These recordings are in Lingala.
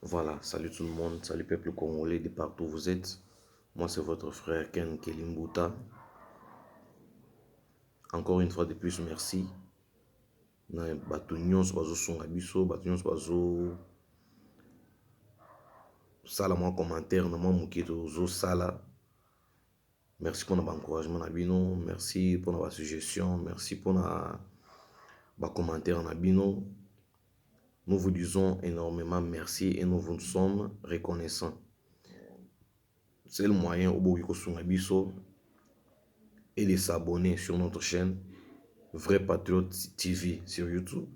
Voilà salut tout le monde salut peuple congolais de partout vous êtes moi c'est votre frère Ken Kelimbuta encore une fois de plus merci na bato nyonso bazosunga biso bato nyonso bazo sala mwa commentaire na mwa moke tozosala Merci pona ba encouragement na bino, merci pona ba suggestion, merci pona ba commentaire na bino, nous vous disons enormement merci et nous vous sommes reconnaissant. Seul moyen oboki kosunga biso et de s'abonner sur notre chaîne Vrai Patriote TV sur YouTube.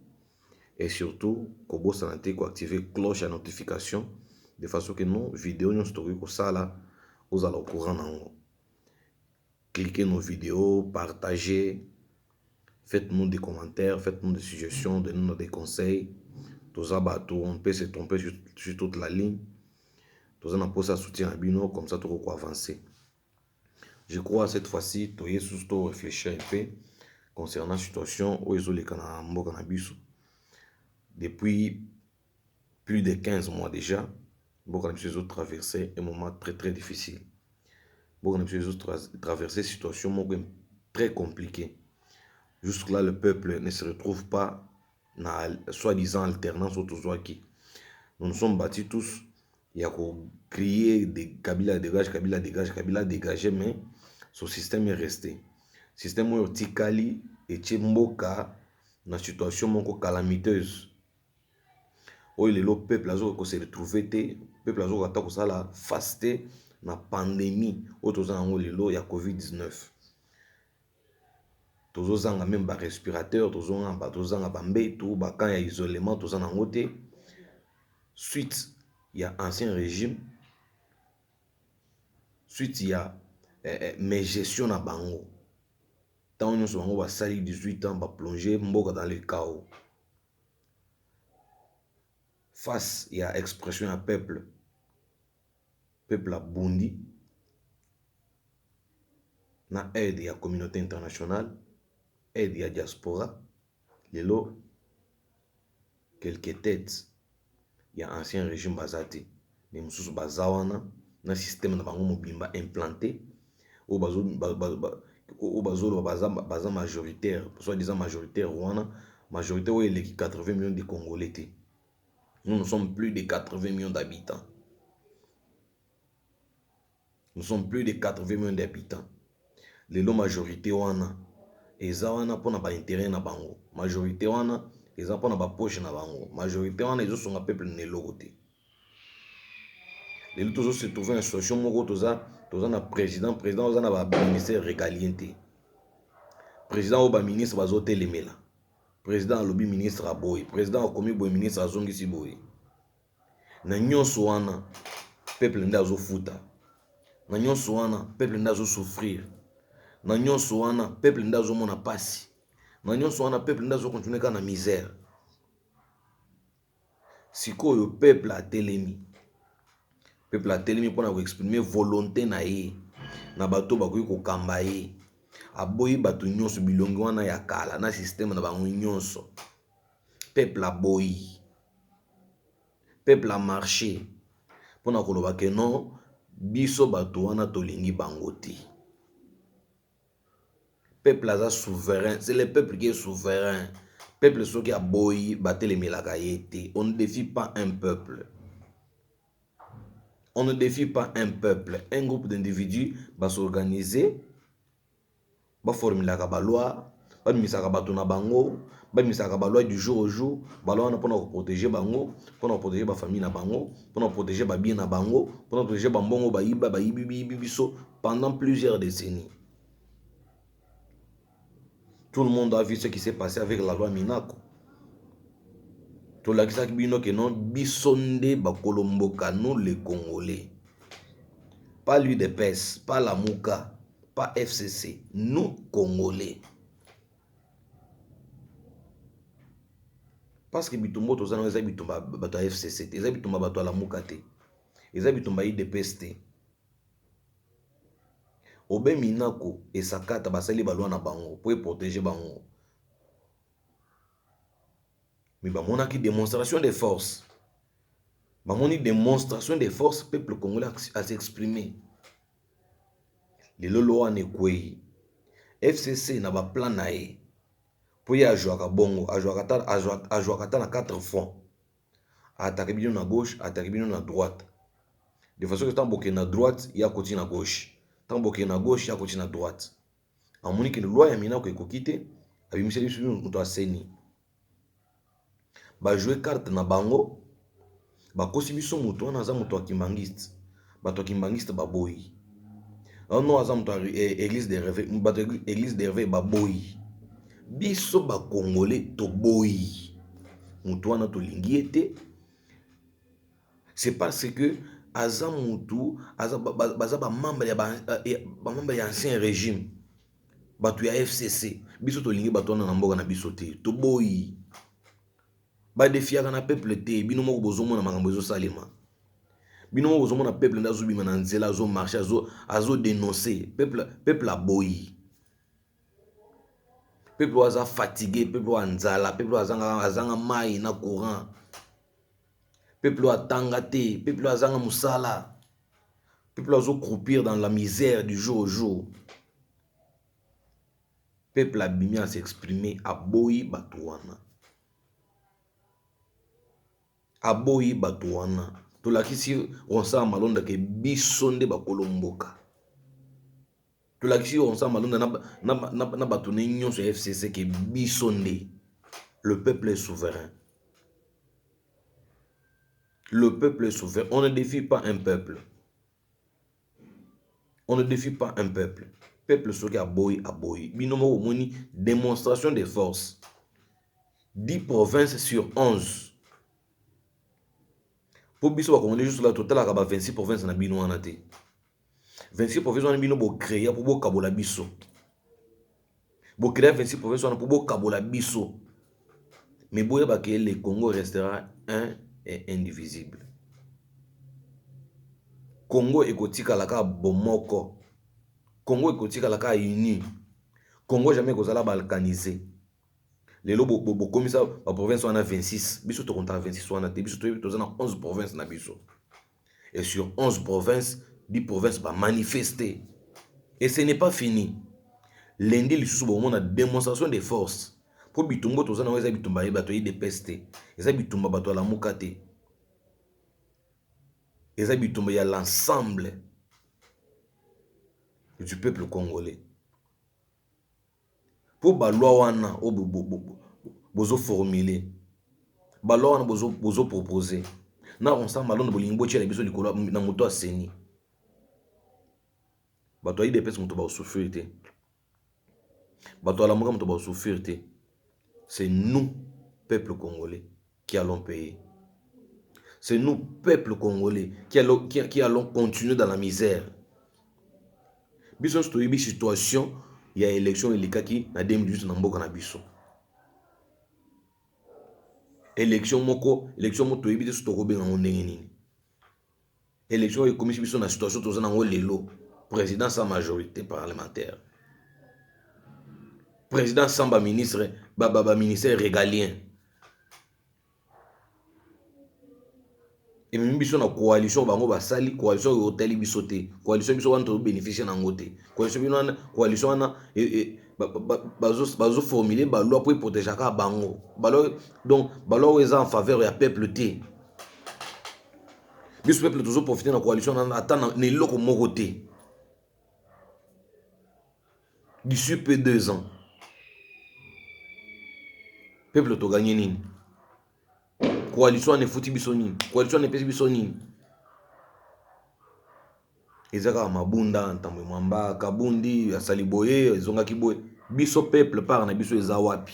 et surtout kobosana te ko activer cloche ya notification de façon que nos videos nyonso tokoki kosala ozala au courant na yango cliquez nos videos partagez faites-nous des commentaires faites-nous des suggestions donnez-nous des conseils toza bato on peut se tromper sur, sur toute la ligne toza na mposa ya soutien na bino comme ça tokoki koavancer Je crois cette fois ci toye susu to reflechir un peu concernant situation oyo ezoleka na mboka na biso depuis plus de 15 mois déjà mboka na biso ezo traverser un moment très très difficile mboka na biso ezo traverser situation moko très compliqué jusque là le peuple ne se retrouve pas na soit disant alternance oyo tozwaki nous nous sommes battus tous ya ko crier de Kabila dégage Kabila dégage Kabila dégage mais son système est resté système oyo tikali etie mboka na situation moko calamiteuse oyo lelo peuple azoka ko se retrouver te peuple azoka ata kosala face te na pandemie oyo toza yango lelo ya covid 19 tozo zanga meme ba respirateur tozo zanga ba mbetu ba camp ya isolement toza na yango te suite ya ancien regime suite ya megestion na bango ntango nyonso bango basali 18 ans ba plonger mboka dans le chaos face ya expression ya peuple peuple abundi na aide ya communaute internationale aide ya diaspora lelo quelques tetes ya ancien regime baza te mais mosusu baza wana na systeme na bango mobimba implante oyo bazoloba baza majoritaire soit disant majoritaire wana majoritaire oyo eleki 80 millions de congolais te Nous, nous sommes plus de 80 millions d'habitants. Nous sommes plus de 80 millions d'habitants. Lelo majorité wana eza wana pona ba intérêt na bango. Majorité wana eza pona ba poche na bango. Majorité wana ezo songa peuple na eloko te. Lelo tozo se trouver na situation moko toza toza na président, président oza na ba ministère régalien te. Président ou ba ministre bazo telemela. President alobi ministre aboyi, president akomi boye ministre azongisi boye. Na nyonso wana peuple nde azofuta, na nyonso wana peuple nde azosouffrir, na nyonso wana peuple nde azomona pasi, na nyonso wana peuple nde azokontinue kaka na misère. Sikoyo peuple atelemi, peuple atelemi mpo na ko exprimer volonte na ye na bato oyo bakoki kokamba ye. Aboyi bato nyonso, bilongi wana ya kala na systeme na bango nyonso. Peuple aboyi, peuple a marche mpo na koloba que non biso bato wana tolingi bango te. Peuple aza souverain c'est le peuple qui est souverain peuple soki aboyi batelemelaka ye te on ne defie pas un peuple on ne defie pas un peuple un groupe d'individu ba s'organiser ba formulaka ba loi babimisaka bato na bango, babimisaka ba lois du jour au jour, ba lois wana mpona koproteger bango, mpona koproteger ba famille na bango, mpona koproteger ba biens na bango, mpona koproteger ba mbongo bayiba, bayibi biyibi biso pendant plusieurs decennies. Tout le monde a vu ce qui s'est passe avec la loi Minaku. Tolakisaki bino que non, biso nde bakolo mboka, nous les Congolais. Pas l'UDPS, pas Lamuka, pas FCC, nous Congolais. Parce que bitumba oyo toza nango eza bitumba bato ya FCC te, eza bitumba bato ya Lamuka te, eza bitumba ya UDPS te. Obe Minako esakata basali balwa na bango mpo eprotege bango, mais bamonaki demonstration de force, bamoni demonstration de force, peuple congolais a s'exprimer Lelo Loan ekweyi. FCC na ba plan na ye po ye ajuaka bongo ajuaka ata na 4 front a atake bino na gauche a atake bino na droite de façon que tango bo kende na droite ye akoti na gauche tango bo kende na gauche ye akoti na droite amoni que loi ya minaku ekoki te abimiseli biso mutu ya ceni. ba joue carte na bango bakosi biso mutu wana aza mutu ya kimbanguiste bato ya kimbanguiste baboyi nono aza moto eglise de reve bato ya eglise de reve baboyi biso bakongole toboyi motu wana tolingi ye te c'est parce que aza mutu baza bamembre ya ancien régime Batu ya FCC biso tolingi batu wana na mboka na biso te toboyi ba defiaka na peuple te bino moko bozomona makambo ezosalema bino moko bozomona peuple nde azobima na nzela azo marche azo azo denonce peuple peuple aboyi peuple oyo aza fatigue peuple oyo anzala peuple oyo azanga azanga mai na courant peuple oyo atanga te peuple oyo azanga mosala Peuple azo croupir dans la misère du jour au jour. Peuple abimi a s'exprimer, aboyi bato wana. Aboyi bato wana. Tolakisi Ronsard Malonda ke biso nde bakolo mboka. Tolakisi Ronsard Malonda na, na, na, na bato ne nyonso ya FCC ke biso nde. Le peuple est souverain. Le peuple est souverain. On ne defie pas un peuple. On ne defie pas un peuple. Peuple soki aboyi aboyi. Bino moko moni démonstration de force. 10 provinces sur 11. Po biso ba congolais juste là totalaka ba 26 provinces na bino wana te. 26 province wana bino bo créer pour bo kabola biso. Bo créer 26 province wana pour bo kabola biso. Mais boye ba que le Congo restera un et indivisible. Congo ekotikala ka bomoko. Congo ekotikala ka uni. Congo jamais ekozala balkanisé. lelo bokomisa baprovince wana 26 biso tokontaka 26 wana te biso toyebi toza na 11 province na biso et sur 11 provinces dit provinces ba manifeste et ce n'est pas fini lundi lisusu bokomona demonstration de force po bitumba oyo toza na yango eza bitumba ya bato ya udps te eza bitumba bato ya lamuka te eza bitumba ya l'ensemble du peuple congolais Po ba lois wana oyo bozo formule, ba lois wana bozo propose na constant malonda bolingi botiela biso likolo na moto ya ceni. Bato ya udps moto bao souffrir te, bato ya lamuka moto bao souffrir te, c'est nous peuples congolais. qui allons payer c'est nous peuple congolais qui allons, qui, qui allons continuer dans la misère biso nyonso toyebi situation ya élection elekaki na 2018 na mboka na biso élection moko élection moko toyebi te so tokobenga yango ndenge nini Election oyo ekomisi biso na situation toza nango lelo. President sans majorite parlementaire. President sans ba ministre ba ba ba ministère regalien. ememi biso na coalition bango basali coalition oyo otali biso te coalition biso wana tozobénéficie na yango te coalition bino wana coalition wana bazoformule baloi mpo eprotegeaka bango baloi donc baloi oyo eza en faveur ya peuple te biso peuple tozo profiter na coalition na ata na eloko moko te d'ici peu deux ans peuple toganye nini coalition wana efuti biso nini coalition wana epesi biso nini eza kaka mabunda ntambo mwamba kabundi asali boye ezongaki boye biso peuple part na biso eza wapi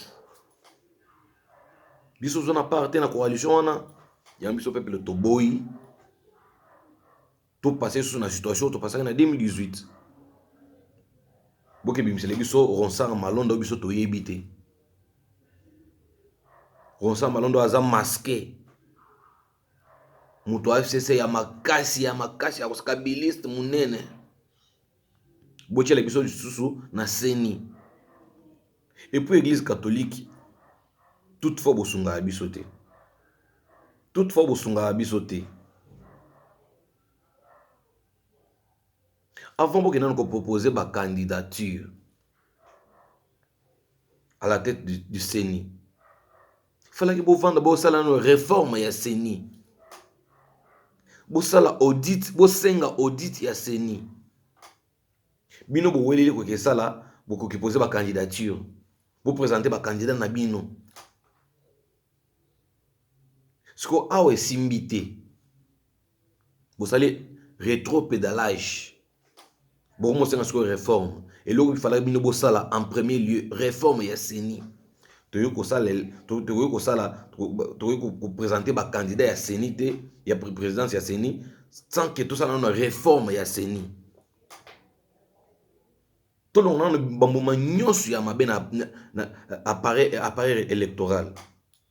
biso toza na part te na coalition wana yango biso peuple toboyi topase lisusu na situation topasaki na 2018 bokebimisele biso ronsar malonda biso toyebi te ronsar malonda aza maske moto ya fcc ya makasi ya makasi ya kabiliste monene botyela biso lisusu na ceni epuis eglise catholique toute fois bosungaka biso te toute fois bosungaka biso te avant bokenda na kopropose bacandidature à la tête du, du ceni falaki bovanda bosala nano reforme ya ceni bosala audit bosenga audit ya ceni bino boweleli koki esala bokoki poze bacandidature bopresente bacandidat na bino siko awa esimbi te bosali retro pedalage Bokomi kosenga sikoyo reforme. Eloko ifalaki bino bosala en premier lieu reforme ya CENI. Tokoki kosala tokoki kosala tokoki ko presenter ba candidats ya CENI te ya présidence ya CENI sans que tosala nano reforme ya CENI. Tolonga nano ba mbuma nionso ya mabe na appareil appareil electoral.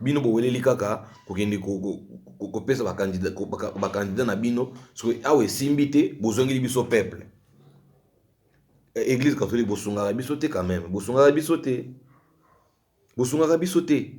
Bino boweleli kaka kokende kopesa ba candidats na bino soki awa esimbi te bozongeli biso peuple eglise catholique bosungaka biso te quand meme bosungaka biso te bosungaka biso te.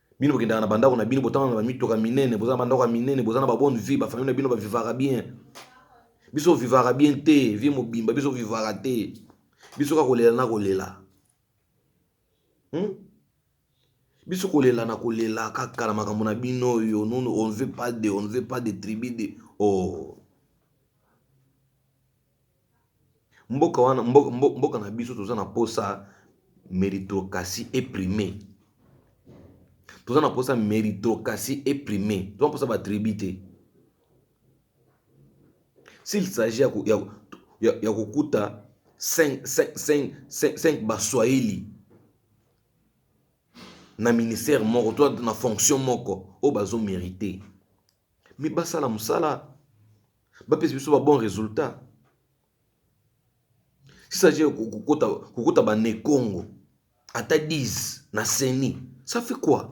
Bino bokendaka na bandako na bino, botanga na bamituka minene, boza na bandako ya minene, boza na babone vie, bafamille na bino bavivaka bien. Biso ovivaka bien te, vie mobimba, biso ovivaka te. Biso kaka kolela na kolela. Hmm? biso kolela na kolela kaka na makambo na bino oyo nunu on veut pas de on veut pas de tribu de oh Mboka wana mboka na biso toza na mposa meritocratie eprime toza na mposa meritocratie eprime toza mposa ba tribu te s'il s'agit ya kokuta 5 ba swahili na ministère moko to na fonction moko oyo bazo merite. mais basala mosala bapesa biso ba bon résultat sisage kokota bane congo ata 10 na seni ça fait quoi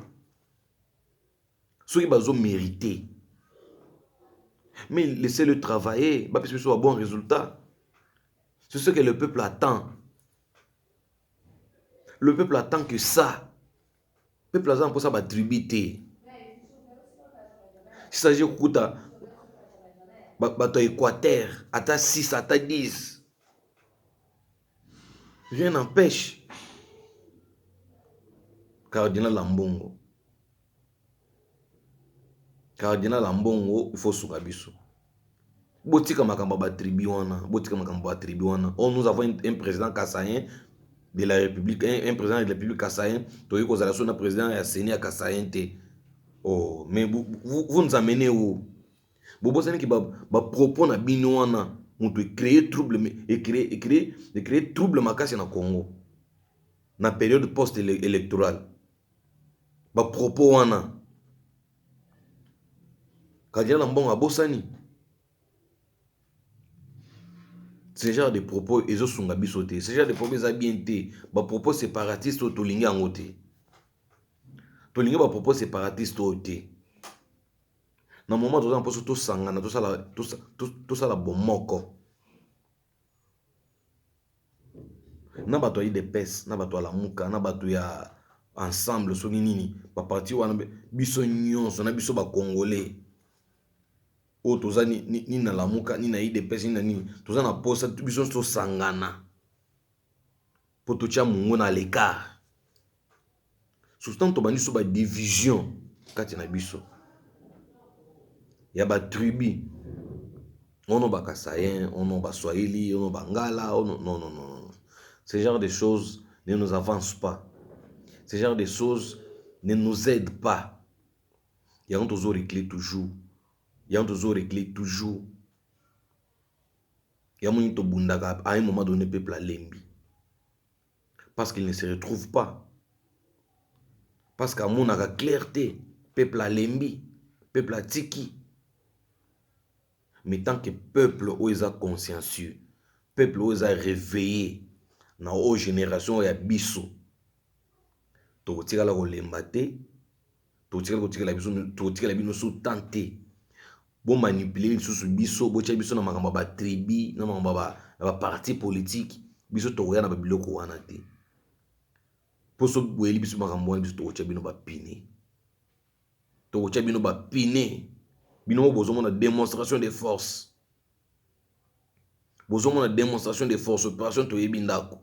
soki bazo mérite mais laissez le travailler bapesa biso ba bon résultat c'est ce que le peuple attend le peuple attend que ça Peuple aza na mposa ba tribut te. Si ça je kukuta bato ya Equateur ata 6 ata 10 rien n'empêche cardinal Ambongo Cardinal Ambongo il faut osunga biso botika makambo ya ba tribu wana botika makambo ya ba tribu wana oyo nous avons un president kasaien de la republique un president de la republique kasaien tokoki kozala biso na president ya ceni ya kasaien te oh mais vous nous amenez où bobosani ke ba propos na bino wana moto e cree trouble e cree e cree e cree trouble makasi na Congo na periode post electorale ba propos wana cardinal ambongo abosani ce genre de propos ezosunga biso te ce genre de propos eza bien te bapropos séparatiste oyo tolingi yango te tolingi bapropos séparatiste oyo te na moment toza na mposo tosangana tosala bomoko na bato ya udps na bato ya lamuka na bato ya ensemble soki nini ba parti wana biso nyonso na biso ba congolais oyo toza nini na lamuka nini na udps nini na nini toza na mposa biso nyonso tosangana Mpo totya mongo na lecart. Surtout ntango tobandi so ba division kati na biso ya ba tribu ono ba kasayen ono ba swahili ono ba ngala ono non non non non ce genre de choses ne nous avance pas ce genre de choses ne nous aide pas yango tozo recler toujours yango tozo recler toujours Ya moni to bundaka a un moment donne peuple a lembi parce qu'il ne se retrouve pas parce que amonaka claire te peuple a lembi peuple a tiki mais tant que peuple oyo eza consciencieux peuple oyo eza reveille na oyo generation ya biso tokotikala kolemba te totikali kotikela biso totikela bino so temps te bomanipule lisusu biso botya biso na makambo ya batribi na makambo ya baparti politike biso tokoya na babiloko wana te mpo so boyeli biso makambo wana biso tokotya bino bapine tokotya bino bapine bino mo bozomona demonstration de force bozomona demonstration de force operation toyebi ndako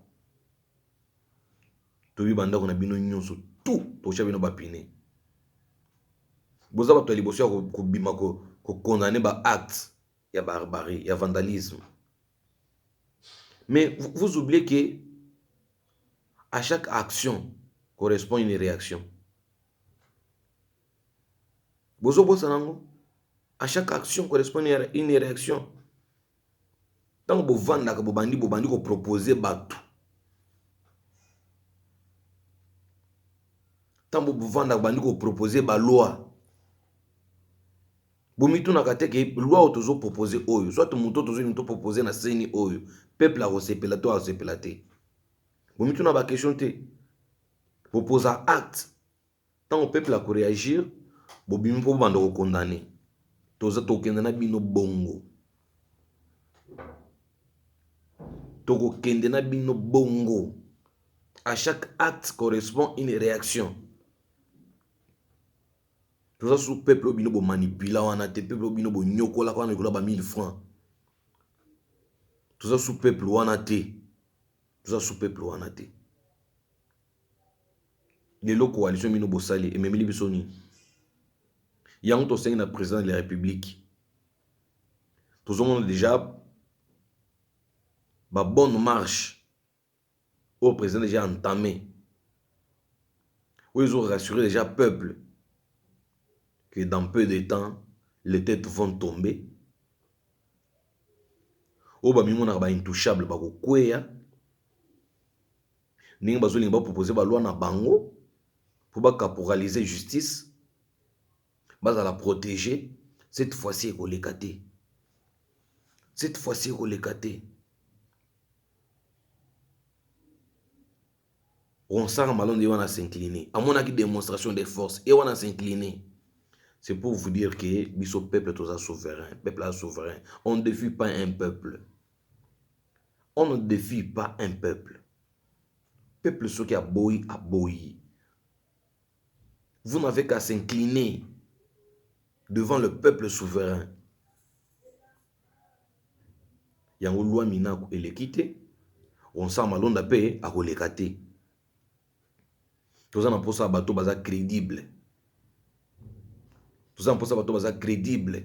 toyebi bandako na bino nyonso tout tosha bino bapine boza bato ya liboso ya kobima kokondane ba acte ya barbarie ya vandalisme mais vous oubliez que à chaque action correspond une réaction Bozo bosana yango a chaque action correspond une reaction tango bo fandaka bo bandi bo bandi ko proposer batu tango bo fandaka bo bandi ko proposer ba lois bo mitunaka te que loi oyo tozo proposer oyo soit mutu oyo tozo linga to proposer na ceni oyo peuple ako sepela to azo sepela te? Bo mituna ba question te bo posa acte. Tango peuple ako reagir bobimi po bobanda ko condamne toza tokende na bino bongo tokokende na bino bongo à chaque acte correspond une réaction toza su peuple oyo bino bomanipula wana te peuple oyo bino bonyokolaka wana likolo ya ba 1000 francs toza su peuple wana te toza su peuple wana te Lelo coalition bino bosali ememeli biso nini? Yango tosengi na president de la republique. Tozomona deja ba bonne marche oyo president deja entame oyo ezo rassurer deja peuple que dans peu de temps les tetes vont tomber oyo bamimonaka ba intouchable bakokweya ndenge bazolinga bapropose balwa na bango mpo bacaporalize justice bazala protege cette fois-ci ekoleka te cette fois-ci ekoleka te ronsaka malonde ye wana s'incline amonaki démonstration de force ye wana s'incline c'est pour vous dire que biso peuple toza souverain peuple aza souverain on ne défie pas un peuple On ne defie pas un peuple, peuple soki aboyi aboyi, vous n'avez qu'à s'incliner devant le peuple souverain, yango loi minaku eleki te, Vincent Malonda pe akoleka te, toza na posa ya bato baza credible, toza na posa ya bato baza credible.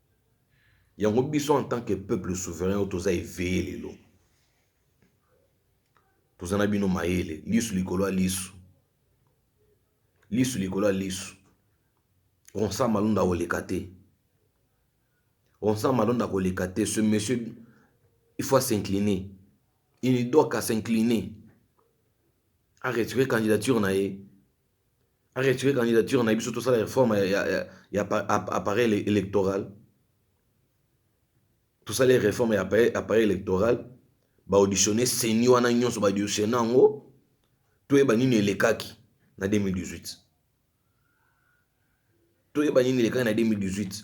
Yango biso en tant que peuple souverain oyo toza eveille lelo toza na bino mayele lisu likolo ya lisu lisu likolo ya lisu ronsa malonda koleka te ronsa malonda koleka te ce monsieur il faut s'incliner il ne doit qu'à s'incliner a retirer candidature na ye a retirer candidature na biso tosala reforme ya, ya, ya, ya appareil électoral tosala reforme ya appareil électoral baauditionne seni wana nyonso baauditionne yango toyeba nini elekaki na 2018 toyeba nini elekaki na 2018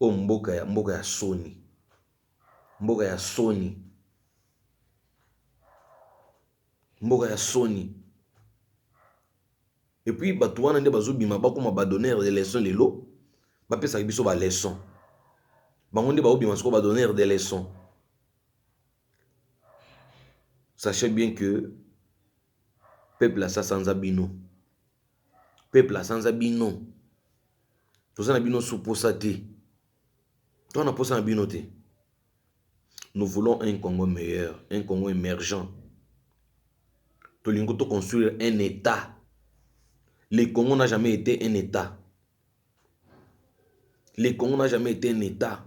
Oyo mboka ya mboka ya soni mboka ya soni mboka ya soni epuis bato wana nde bazobima bakoma ba donnere de leçon lelo bapesaka biso ba leçon bango nde baobima soko ba donnere de leçon sache bien que Peuple asi asanza bino. Peuple asanza bino. Toza na bino sous posa te. Toza na posa na bino te. Nous voulons un Congo meilleur, un Congo emergent. Tolingi to construire un Etat. Le Congo n'a jamais été un Etat. Le Congo n'a jamais été un Etat.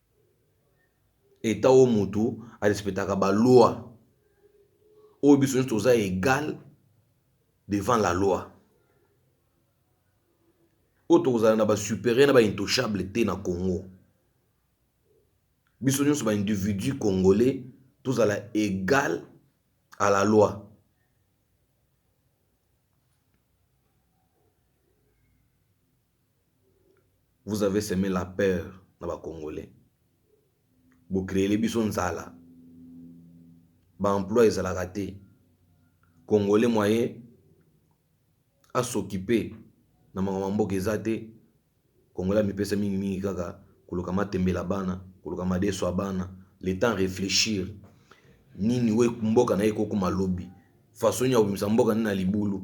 Etat oyo mutu a respectaka ba lois oyo biso nionso toza egal devant la loi oyo tokozala na ba superieur na ba intouchable te na congo biso nionso ba individu congolais tozala egal a la loi. vous avez seme la peur na ba congolais bo creele biso nzala ba emploi ezalaka te congolais moye asokipe na makambo ya mboka eza te congolais amipesa mingi mingi kaka koluka matembela bana koluka madeso ya bana le temps réfléchir nini we mboka na ye kokoma lobi façon nini akobimisa mboka nini na libulu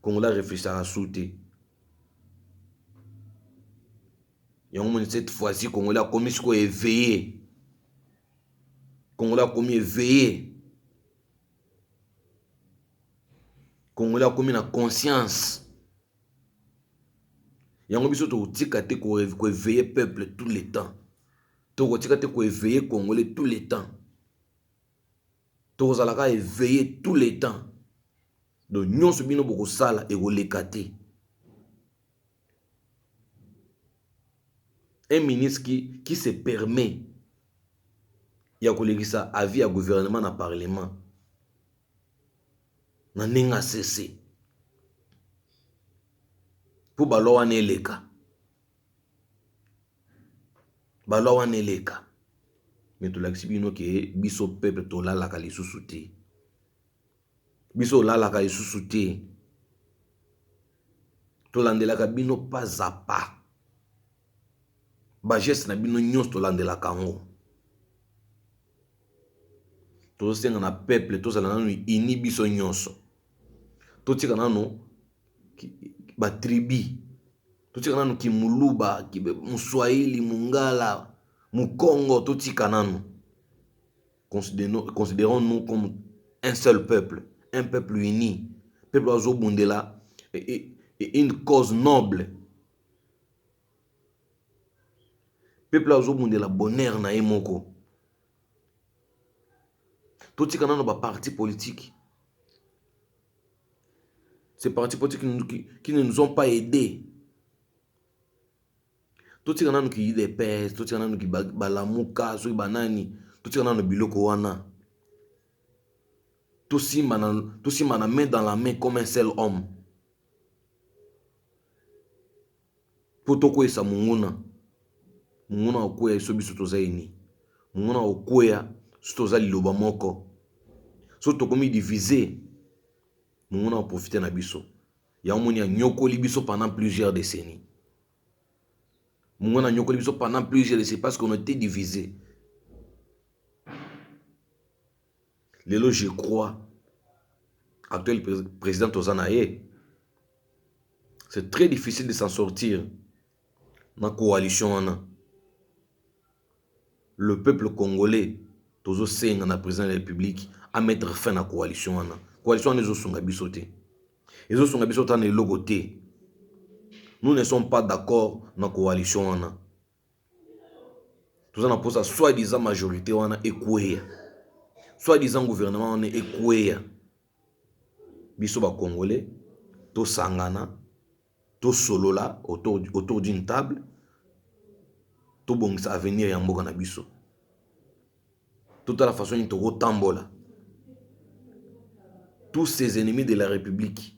congolais areflechaka su te Yango moni cette fois ci congolais akomi sikoyo eveille congolais akomi eveille congolais akomi na conscience yango biso tokotika te ko eveille peuple tout le temps tokotika te ko eveille congolais tout le temps. Toko zala ka eveille tout le temps donc nionso bino boko sala eko leka te. Un ministre qui qui se permet ya ko lekisa avis ya gouvernement na parlement na ndenge asese po ba loi wana eleka. Ba loi wana eleka mais tolakisi bino ke biso peuple tolalaka lisusu te biso olalaka lisusu te tolandelaka bino pas à pas ba geste na bino nyonso tolandelaka yango tozosenga na peuple tozala nanu ini biso nyonso totika nanu ba tribu Totika nanu ki muluba, ki muswahili, mungala, mukongo totika nanu. Considerons nous comme un seul peuple, un peuple uni, peuple oyo azo bundela une cause noble, peuple oyo azo bundela bonheur na ye moko. Totika nano ba parti politique ce parti politique qui ne nous ont pas aide totika nano ki udps totika nano ki balamuka soki banani totika nano biloko wana tosimbana main dans la main comme un seul homme po tokweisa monguna monguna akokwea ye so biso toza ye nini monguna akokwea so toza liloba moko so tokomi divise monguna aprofite na biso yango moni anyokoli biso pendant plusieurs décennies monguna anyokoli biso pendant plusieurs décennies parce qu'on était divise Lelo je crois actuel president toza na ye c'est très difficile de s'en sortir na coalition wana le peuple congolais tozo senga na president de la république a mettre fin na coalition wana coalition wana ezosunga biso te ezosunga biso ta na eloko te nous ne sommes pas d'accord na coalition wana toza na posa soit disant majorite wana ekueya soit disant gouvernement wana ekueya biso ba congolais tosangana tosolola autour, autour d'une table tobongisa avenir ya mboka na biso totala façon nini tokotambola tous ces ennemis de la république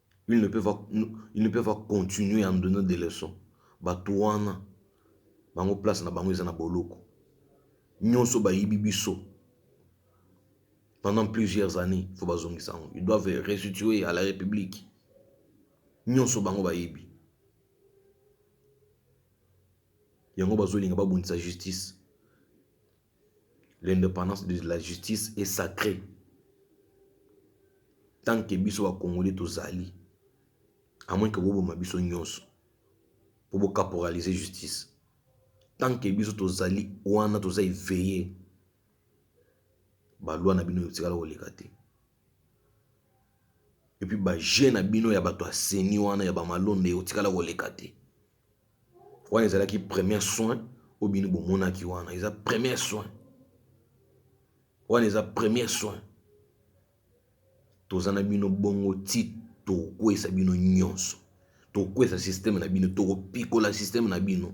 Ils ne peuvent pas, ils ne peuvent pas continuer à nous donner des leçons. Bato wana bango place na bango eza na boloko. Nyonso bayibi biso pendant plusieurs années, faut bazongisa yango. Ils doivent restituer à la République. Nyonso bango bayibi. Yango bazolinga babundisa justice. L'independance de la justice est sacre tant que biso ba congolais tozali à moins que boboma biso nionso po bo caporaliser justice tant que biso tozali wana toza eveiller ba loi na bino etikala koleka te epuis ba jeux na bino ya bato ya ceni wana ya ba malonda ekotikala koleka te. Wana ezalaki premier soin oyo bino bomonaki wana eza premier soin wana eza premier soin toza na bino bongo ti tokokweyisa bino nyonso tokokweyisa systeme na bino tokopikola systeme na bino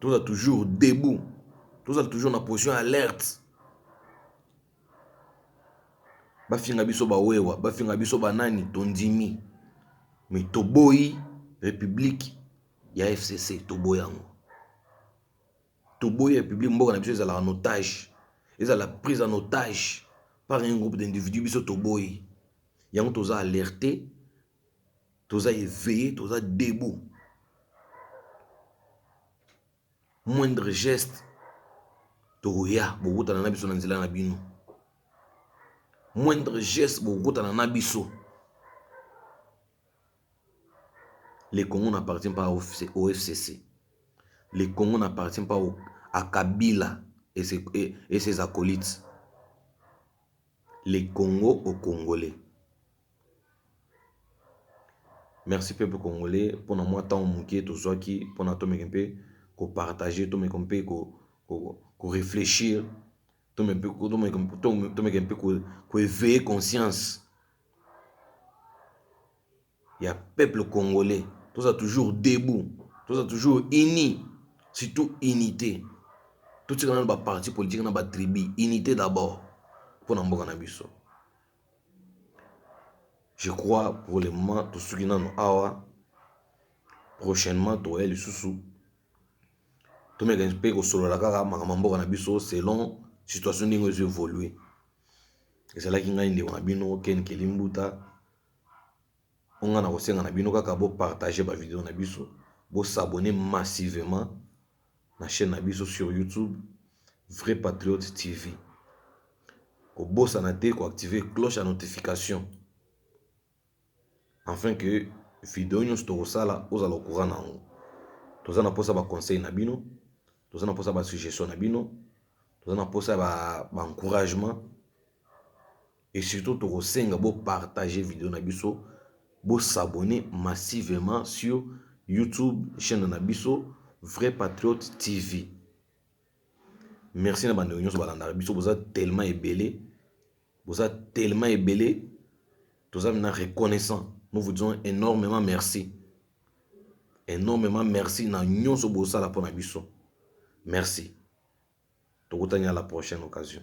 Tozala toujours debout, tozala toujours na position ya alerte. Bafinga biso ba wewa, bafinga biso ba nani, tondimi me toboyi republique ya FCC, toboyi yango, toboyi republique. Mboka na biso ezalaka na otage, ezala prise en otage par un groupe d'individus, biso toboyi yango, toza alerte. toza eveille toza debout moindre geste tokoya bokutana na biso na nzela na bino moindre geste bokokutana na biso le congo n'appartient pas au fcc le congo n'appartient pas au, à kabila et ses, et, et ses acolytes le congo au congolais Merci peuple congolais pona mua tango muke tozuaki pona tomeka mpe ko partager tomeka mpe ko reflechir tomeka mpe ko eveiller conscience ya peuple congolais tozala toujours debout tozala toujours unis surtout unite totika nanu ba partis politiques na ba tribus unite d'abord pona mboka na biso. Je crois pour le moment tosuki nanu awa prochainement tokoya lisusu tomeka pe kosolola kaka makambo ya mboka na biso selon situation ndenge ezo evolue ezalaki ngai ndeko na bino Ken Nkeli Mbuta oyo ngai nakosenga na bino kaka bo partager ba video na biso bo s'abonner massivement. na chaine na biso sur YouTube vrai patriote TV kobosana te ko activer cloche ya notification enfin que video nyonso tokosala ozala au courant na yango toza na posa ba conseil na bino toza na posa ba suggestion na bino toza na posa ba encouragement Et surtout toko senga bo partager video na biso, bo s'abonner massivement sur YouTube chaine na biso Vrai Patriote TV. Merci na ba ndeko nionso ba landaka biso, boza tellement ebele, boza tellement ebele, toza vraiment reconnaissant. Nous vous disons enormement merci. Enormement merci na nionso bosala pona biso. Merci. Tokutani a la prochaine occasion.